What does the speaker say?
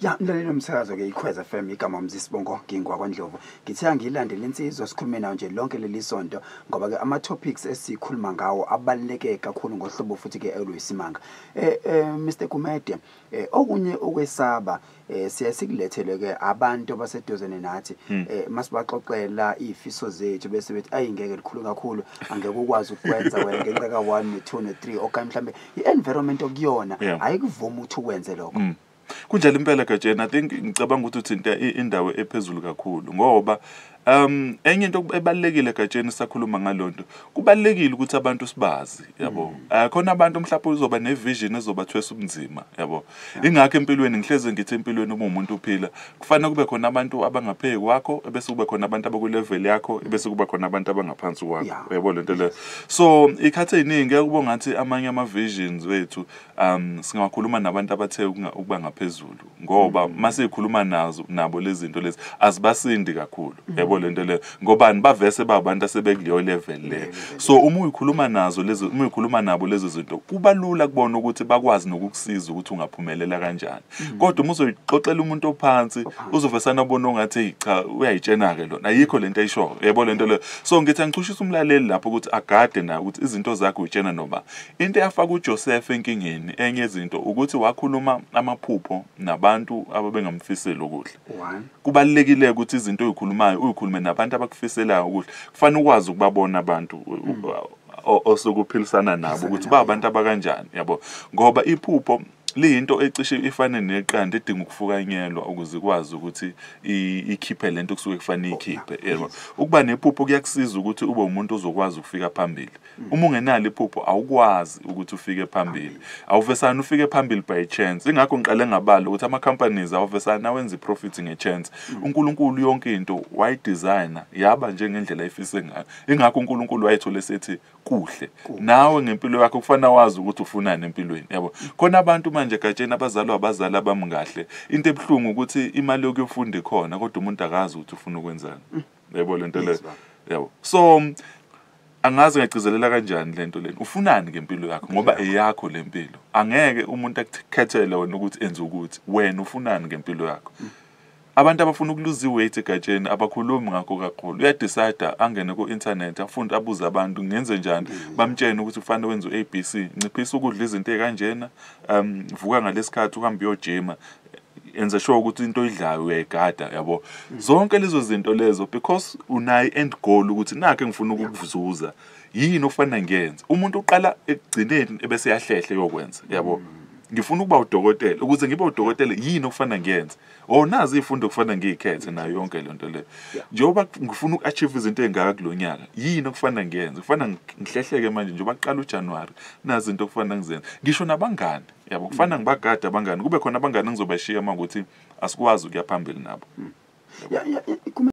ya mlaleli nomsakazo ke ikhweza fm igama mzisibongo ngingwa kwandlovu ngithe angiyilandele insizwa sikhulume nayo nje lonke leli sonto ngoba ke ama-topics esikhuluma ngawo abaluleke kakhulu ngohlobo futhi ke oluyisimanga um eh, eh, mr gumede Eh, okunye okwesaba eh, siyaye sikulethelwe ke abantu abaseduzane nathi hmm. eh, masibaxoxela izifiso zethu bese bethi ayi ngeke likhulu kakhulu angeke ukwazi ukwenza wena ngenxa ka 1 ne 2 ne 3 okanye mhlambe i-environment okuyona ayikuvumi ukuthi ukwenze lokho hmm. kunjalo impela gatsheni i think ngicabanga ukuthi uthinta indawo ephezulu kakhulu ngoba Um enye into ebalekile gatsheni sakhuluma ngalonto kubalekile ukuthi abantu sibazi yabo mm. ah, khona abantu mhlawumbe uzoba ne vision ezobathwesa ubunzima yabo ingakho empilweni ngihleze ngithi empilweni uma umuntu uphila kufanele kube khona abantu abangapheki kwakho bese kube khona abantu abaku level yakho bese kuba khona abantu abangaphansi kwakho yabo lento le so ikhathe iningi kubo ngathi amanye ama visions wethu um singakhuluma nabantu abathe ukuba ngaphezulu ngoba masekhuluma nazo nabo lezi zinto lezi azibasindi kakhulu yebo le nto leyo ngobani bavese babantu asebekuleyo level le so uma uyikhuluma nazo lezi uma uyikhuluma nabo lezi zinto kuba lula kubona ukuthi bakwazi nokukusiza ukuthi ungaphumelela kanjani kodwa uma uzoyixoxela umuntu ophansi uzovesana ubona ongathi cha uyayitshena-ke lona ayikho le nto ayishoyo yebo le nto leyo so ngithi angichushisa umlaleli lapho ukuthi agade naye ukuthi izinto zakhe uyitshena noma Into eyafaka uJosefa enkingeni enye yezinto ukuthi wakhuluma amaphupho nabantu ababengamfiseli okuhle. One. Kubalulekile ukuthi izinto oyikhulumayo uyikhulume nabantu abakufiselayo okuhle. Kufanele ukwazi ukubabona abantu u- u- o- osuke uphilisana nabo ukuthi ba abantu abakanjani yabo ngoba iphupho liyinto ecishe ifane neqanda edinga ukufukanyelwa ukuze ikwazi ukuthi ikhiphe lento kusuke kufanele ikhiphe yebo ukuba nephupho kuyakusiza ukuthi ube umuntu ozokwazi ukufika phambili mm. uma ungenalo iphupho awukwazi ukuthi ufike phambili awuvesana ufike phambili by chance ingakho ngiqale ngabala ukuthi ama companies awuvesana awenza iprofit ngechance mm. uNkulunkulu yonke into wayidesigner yaba njengendlela efise ngayo ingakho uNkulunkulu wayethole sethi kuhle nawe ngempilo yakho kufanele wazi ukuthi ufunani empilweni yabo khona abantu manje gatsheni abazalwa abazali abami kahle into ebuhlungu ukuthi imali yokuyofunda ikhona kodwa umuntu akazi ukuthi ufuna ukwenzani mm. yabo lento le yabo so angazi ngagcizelela kanjani lento leni ufunani ngempilo yakho ngoba eyakho lempilo angeke umuntu akukhethele wena ukuthi enze ukuthi wena ufunani ngempilo yakho mm. Abantu abafuna ukuluza iweight egatsheni abakhulumi ngakho kakhulu. Uyadecide angene ku-internet afunde abuze abantu ngenze njani mm. bamtshene ukuthi kufanele wenze u-ABC nciphisa ukudla izinto ey'kanjena um vuka ngalesikhathi uhambe uyojima enze sure ukuthi into oyidlayo uyayigada yabo mm. zonke lezo zinto lezo because unayo end goal ukuthi nakhe ngifuna ukukuzuza yini ofanele ngiyenze umuntu uqala ekugcineni ebese yahlehle yokwenza yabo mm. ngifuna ukuba udokotela ukuze ngibe udokotela yini okufanele ngiyenze or nazi izifundo okufanele ngiyikhethe nayo yonke le nto leyo njengoba ngifuna uku-achieve izinto ey'ngaka kulo nyaka yini okufanele ngiyenze kufanele ngihlehleke manje njengoba kuqala ujanuwari nazi into okufanele ngizenze ngisho nabangani yabo kufanele ngibagade abangani kube khona abangani engizobashiya uma ukuthi asikwazi ukuya phambili nabo hmm.